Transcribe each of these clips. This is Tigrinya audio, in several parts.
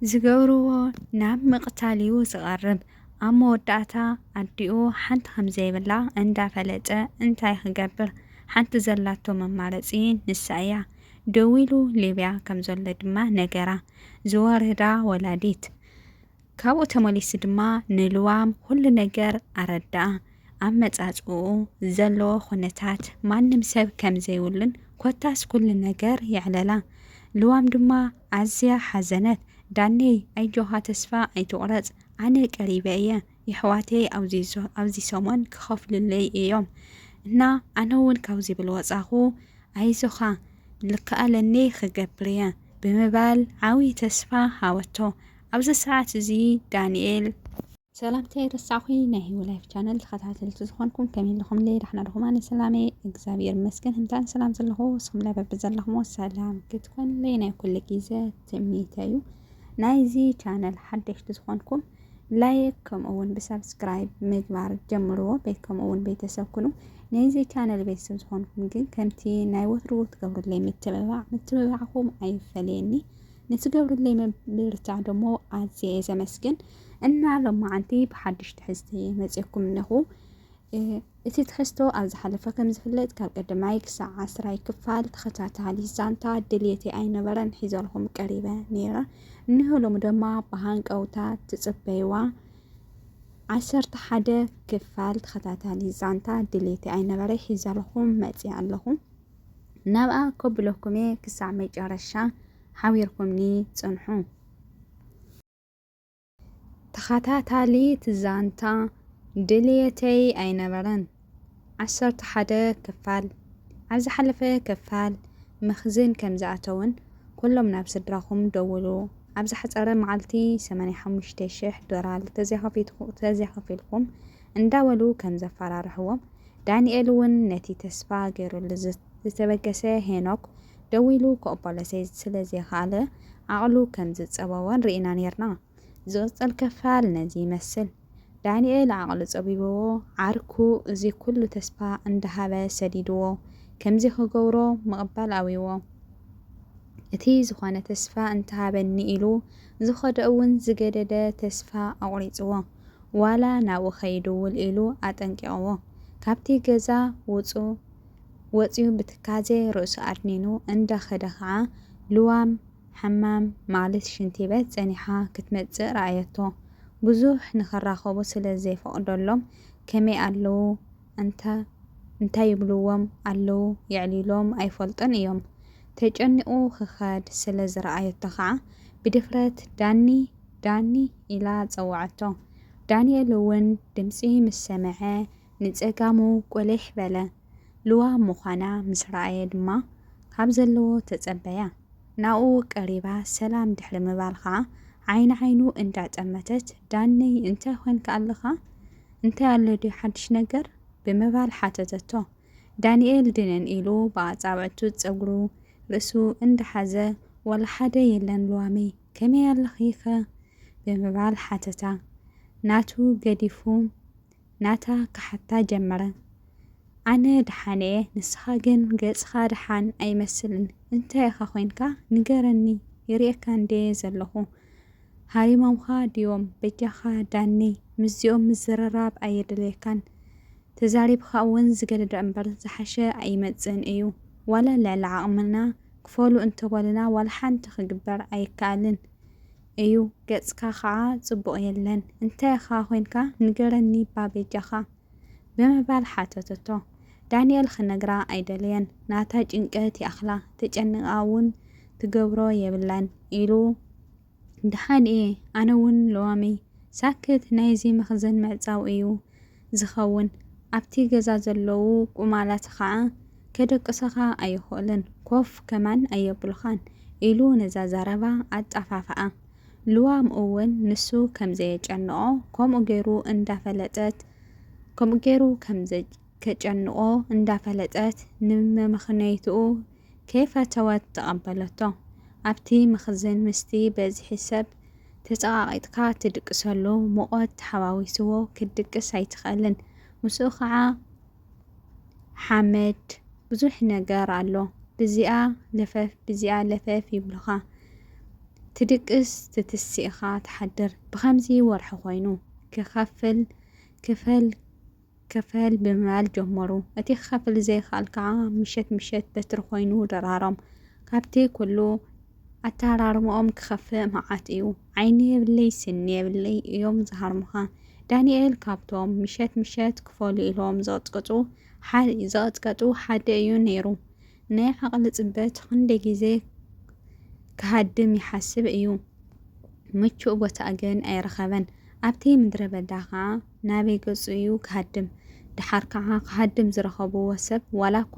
ዝገብርዎ ናብ ምቕታል ዩ ዝቐርብ። ኣብ መወዳእታ ኣዲኡ ሓንቲ ከምዘይብላ እንዳፈለጠ እንታይ ክገብር ሓንቲ ዘላቶ መማረፂ ንሳ እያ። ደዊሉ ሊብያ ከምዘሎ ድማ ነገራ። ዝወረዳ ወላዲት ካብኡ ተመሊሱ ድማ ንልዋም ኩሉ ነገር ኣረድኣ። ኣብ መፃፅእኡ ዘለዎ ኩነታት ማንም ሰብ ከምዘይብሉን ኮታስ ኩሉ ነገር የዕለላ። ልዋም ድማ ኣዝያ ሓዘነት ዳነይ ኣጆኻ ተስፋ ኣይትቁረጽ ኣነ ቀሪበ እየ የሕዋተይ ኣውዚ ሰሙን ክኸፍሉለይ እዮም እና ኣነ ውን ካብዚ ብል ወጻኹ ኣይዞኻ ልከኣለኒ ክገብር እየ ብምባል ዓውይ ተስፋ ሃበቶ ኣብዚ ሰዓት እዚ ዳኒኤል ሰላምተይ ረሳዕኹ ናይ ሂወ ላይፍ ቻነል ተኸታተልቲ ዝኾንኩም ከመይ ኣለኹም ለይ ዳሕና ድኹም ኣነ ሰላመ እግዚኣብሔር ይመስገን ህምታን ሰላም ዘለኹ ስኹም ላይ በቢ ዘለኹሞ ሰላም ክትኮን ለይ ናይ ኩሉ ግዜ ትምኒተዩ ናይዚ ቻነል ሓደሽቲ ዝኾንኩም ላይክ ከምኡ እውን ብሰብስክራይብ ምግባር ጀምርዎ ቤት ከምኡ እውን ቤተሰብ ኩኑ ናይዚ ቻነል ቤተሰብ ዝኾንኩም ግን ከምቲ ናይ ወትሩ ትገብሩለይ ምትብባዕ ምትብባዕኹም ኣይፈለየኒ ንትገብሩለይ ምብርታዕ ደሞ ኣዝየ ዘመስግን እና ሎማዓንቲ ብሓድሽ ትሕዝቲ መፅየኩም እነኹ እቲ ትሕዝቶ ኣብ ዝሓለፈ ከም ዝፍለጥ ካብ ቀዳማይ ክሳዕ ዓስራይ ክፋል ተኸታታሊ ዛንታ ድልየተይ ኣይነበረን ሒዘልኹም ቀሪበ ነይረ እነሆ ሎሚ ድማ ብሃንቀውታ ትፅበይዋ ዓሰርተ ሓደ ክፋል ተኸታታሊ ዛንታ ድሌቲ ኣይነበረ ሒዘልኹም መፅኣ ኣለኹ ናብኣ ከብለኩም እየ ክሳዕ መጨረሻ ሓቢርኩምኒ ፅንሑ ተኸታታሊት ዛንታ ድልየተይ ኣይነበረን። ዓሰርተ ሓደ ክፋል ኣብ ዝሓለፈ ክፋል መኽዝን ከም ዝኣተዉን ኩሎም ናብ ስድራኹም ደውሉ ኣብ ዝሓጸረ መዓልቲ ሰማንያ ሓሙሽተ ሽሕ ዶላር ተዘይከፊልኩም እንዳበሉ ከም ዘፈራርሕዎም፣ ዳኒኤል እውን ነቲ ተስፋ ገይሩሉ ዝተበገሰ ሄኖክ ደዊሉ ክቕበሎ ስለ ዘይከኣለ ዓቕሉ ከም ዝጸበቦን ርኢና ኔርና። ዝቕጽል ክፋል ነዚ ይመስል። ዳኒኤል ዓቕሉ ጸቢቡዎ ዓርኩ እዚ ኩሉ ተስፋ እንዳሃበ ሰዲዱዎ ከምዚ ክገብሮ ምቕባል ኣብዩዎ እቲ ዝኾነ ተስፋ እንተሃበኒ ኢሉ ዝኸደ'ውን ዝገደደ ተስፋ ኣቑሪጹዎ ዋላ ናብኡ ከይድውል ኢሉ ኣጠንቂቕዎ ካብቲ ገዛ ውጹ ወጽዩ ብትካዜ ርእሱ ኣድኒኑ እንዳ ከደ ከኣ ልዋም ሓማም ማልት ሽንቲ ቤት ጸኒሓ ክትመጽእ ረኣየቶ ብዙሕ ንክራኸቡ ስለ ዘይፈቕደሎም ከመይ ኣለዉ እንታ እንታይ ይብልዎም ኣለዉ የዕሊሎም ኣይፈልጡን እዮም ተጨኒቑ ክኸድ ስለ ዝረኣየቶ ከኣ ብድፍረት ዳኒ ዳኒ ኢላ ጸውዓቶ። ዳንኤል'ውን ድምጺ ምስ ሰምዐ ንጸጋሙ ቁሊሕ በለ። ልዋም ምዃና ምስ ረኣየ ድማ ካብ ዘለዎ ተጸበያ። ናብኡ ቀሪባ ሰላም ድሕሪ ምባል ከኣ ዓይኒ ዓይኑ እንዳ ጠመተት ዳኒይ እንታይ ኾንካ ኣለኻ? እንታይ ኣሎ ድዩ ሓድሽ ነገር? ብምባል ሓተተቶ። ዳኒኤል ድንን ኢሉ ብኣጻብዕቱ ጸጉሩ ርእሱ እንዳሓዘ ዋላ ሓደ የለን ሉዋመይ ከመይ ኣለኺ'ኸ? ብምባል ሓተታ። ናቱ ገዲፉ ናታ ክሓታ ጀመረ። ኣነ ደሓን'የ ንስኻ ግን ገጽኻ ደሓን ኣይመስልን እንታይ ኢኻ ኮይንካ ንገረኒ ይርእየካ እንድየ ዘለኹ ሃሪሞምኻ ድዮም በጃኻ ዳኒ ምስዚኦም ምዝርራብ ኣየድልየካን ተዛሪብኻ እውን ዝገደደ እምበር ዝሓሸ ኣይመፅእን እዩ። ዋላ ልዕሊ ዓቕምና ክፈሉ እንተበሉና ዋላ ሓንቲ ክግበር ኣይከኣልን እዩ። ገፅካ ከዓ ፅቡቕ የለን። እንታይ ኢኻ ኮይንካ ንገረኒ እባ በጃኻ? ብምባል ሓተተቶ። ዳኒኤል ክነግራ ኣይደለየን። ናታ ጭንቀት ይኣኽላ፣ ተጨኒቓ እውን ትገብሮ የብላን ኢሉ። ደሓን እየ ኣነ እውን ሎሚ። ሳክት ናይዚ መኽዘን ምዕጻው እዩ ዝኸውን ኣብቲ ገዛ ዘለዉ ቁማላት ኸኣ ከደቅሳኻ ኣይኽእሉን ኮፍ ከማን ኣየብሉኻን ኢሉ ነዛ ዘረባ ኣጣፋፍኣ። ልዋም እውን ንሱ ከም ዘየጨንቖ ከምኡ ገይሩ እንዳፈለጠት ከምኡ ገይሩ ከም ከጨንቖ እንዳፈለጠት ንመመኽነይትኡ ከይፈተወት ተቐበለቶ። ኣብቲ መኽዝን ምስቲ በዝሒ ሰብ ተጸቓቒጥካ ትድቅሰሉ ሙቐት ተሓዋዊስዎ ክትድቅስ ኣይትኽእልን። ምስኡ ኸኣ ሓመድ፣ ብዙሕ ነገር ኣሎ። ብዚኣ ለፈፍ ብዚኣ ለፈፍ ይብሉኻ። ትድቅስ ትትስእ ኢኻ ትሓድር። ብኸምዚ ወርሒ ኮይኑ ክኸፍል ክፈል ክፈል ብምባል ጀመሩ። እቲ ክኸፍል ዘይክኣል ከኣ ምሸት ምሸት በትሪ ኮይኑ ደራሮም። ካብቲ ኩሉ ኣተሃራርምኦም ክኸፍእ መዓት እዩ። ዓይኒ የብለይ ስኒ የብለይ እዮም ዝሃርሙኻ። ዳንኤል ካብቶም ምሸት ምሸት ክፈሉ ኢሎም ዝቕጽቅጹ ሓደ እዩ ነይሩ። ናይ ዓቕሊ ጽበት ኽንደይ ግዜ ክሃድም ይሓስብ እዩ፣ ምቹእ ቦታ ግን ኣይረኸበን። ኣብቲ ምድረ በዳ ኸኣ ናበይ ገጹ እዩ ክሃድም? ደሓር ከኣ ክሃድም ዝረኸብዎ ሰብ ዋላ እኳ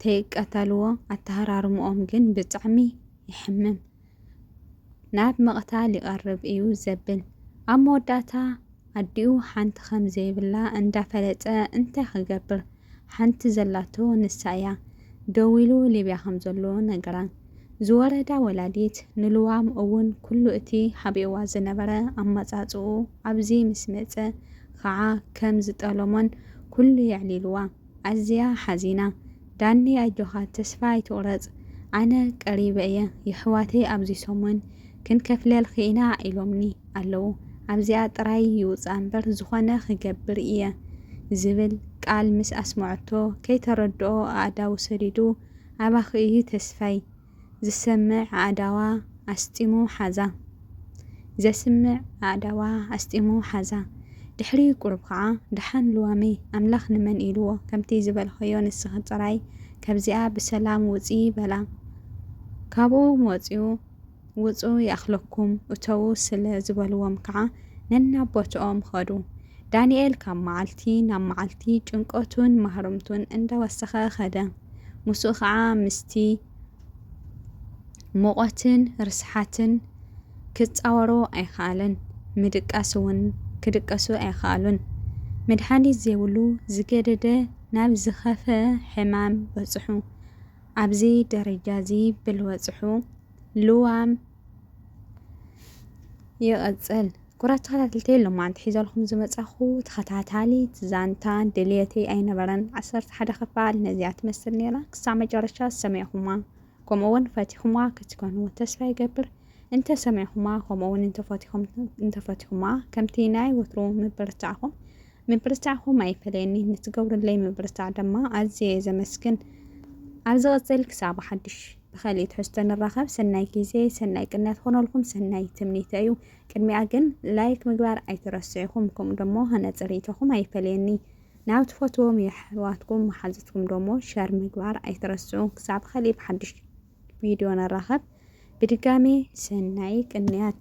ተይቀተልዎ ኣተሃራርምኦም ግን ብጣዕሚ የሕምም። ናብ ምቕታል ይቐርብ እዩ ዘብል። ኣብ መወዳእታ ኣዲኡ ሓንቲ ከም ዘይብላ እንዳፈለጠ እንታይ ክገብር ሓንቲ ዘላቶ ንሳ እያ። ደዊሉ ሊብያ ከም ዘሎ ነገራ። ዝወረዳ ወላዲት ንልዋም እውን ኩሉ እቲ ሓቢእዋ ዝነበረ ኣመጻጽኡ ኣብዚ ምስ መጸ ኸዓ ከም ዝጠለሞን ኩሉ የዕሊልዋ። ኣዝያ ሓዚና ዳኒ ኣጆኻ ተስፋ ኣይትቁረጽ ኣነ ቀሪበ እየ የሕዋተይ ኣብዚ ሰሙን ክንከፍለልኺ ኢና ኢሎምኒ ኣለዉ ኣብዚኣ ጥራይ ይውጻ እምበር ዝኾነ ክገብር እየ ዝብል ቃል ምስ ኣስመዐቶ ከይተረድኦ ኣእዳዉ ሰዲዱ ኣባኺ እዩ ተስፋይ ዝሰምዕ ኣእዳዋ ኣስጢሙ ሓዛ። ዘስምዕ ኣእዳዋ ኣስጢሙ ሓዛ። ድሕሪ ቁሩብ ኸዓ፣ ደሓን ልዋመይ፣ ኣምላኽ ንመን ኢልዎ፣ ከምቲ ዝበልኻዮ ንስኺ ጥራይ ካብዚኣ ብሰላም ውጺ በላ። ካብኡ ወጺኡ፣ ውጹ ይኣኽለኩም እተዉ ስለ ዝበልዎም ከኣ ነናብ ቦትኦም ኸዱ። ዳንኤል ካብ መዓልቲ ናብ መዓልቲ ጭንቀቱን ማህረምቱን እንዳወሰኸ ኸደ። ምስኡ ኸዓ ምስቲ ሙቐትን ርስሓትን ክጻወሮ ኣይኸኣለን። ምድቃስ እውን ክድቀሱ ኣይኸኣሉን። መድሓኒት ዘይብሉ ዝገደደ ናብ ዝኸፈ ሕማም በጽሑ። ኣብዚ ደረጃዚ ብልበጽሑ ልዋም ይቐፅል። ኩራት ተኸታተልቲ የሎም መዓንቲ ሒዘልኩም ዝመፃኹ ተኸታታሊት ዛንታ ድልየተይ ኣይነበረን ዓሰርተ ሓደ ክፋል ነዚኣ ትመስል ነይራ ክሳብ መጨረሻ ሰሚዕኹማ ከምኡ እውን ፈቲኹማ ክትኮኑ ተስፋ ይገብር እንተሰሚዕኹማ ከምኡ እውን እንተፈቲኹማ ከምቲ ናይ ወትሩ ምብርታዕኹም ምብርታዕኹም ኣይፈለየኒ ንትገብሩለይ ምብርታዕ ድማ ኣዝየ ዘመስግን ኣብ ዝቐፅል ክሳብ ሓድሽ ብኸሊእ ትሕዝቶ ንራኸብ ሰናይ ጊዜ ሰናይ ቅንያት ኾኖልኩም ሰናይ ትምኒተይ እዩ ቅድሚኣ ግን ላይክ ምግባር ኣይትረስዑ ኢኹም ከምኡ ደሞ ሃናጺ ሪኢቶኹም ኣይፈለየኒ ናብ ትፈትዎም የሕዋትኩም መሓዙትኩም ደሞ ሸር ምግባር ኣይትረስዑ ክሳብ ኸሊእ ብሓድሽ ቪድዮ ንራኸብ ብድጋሜ ሰናይ ቅንያት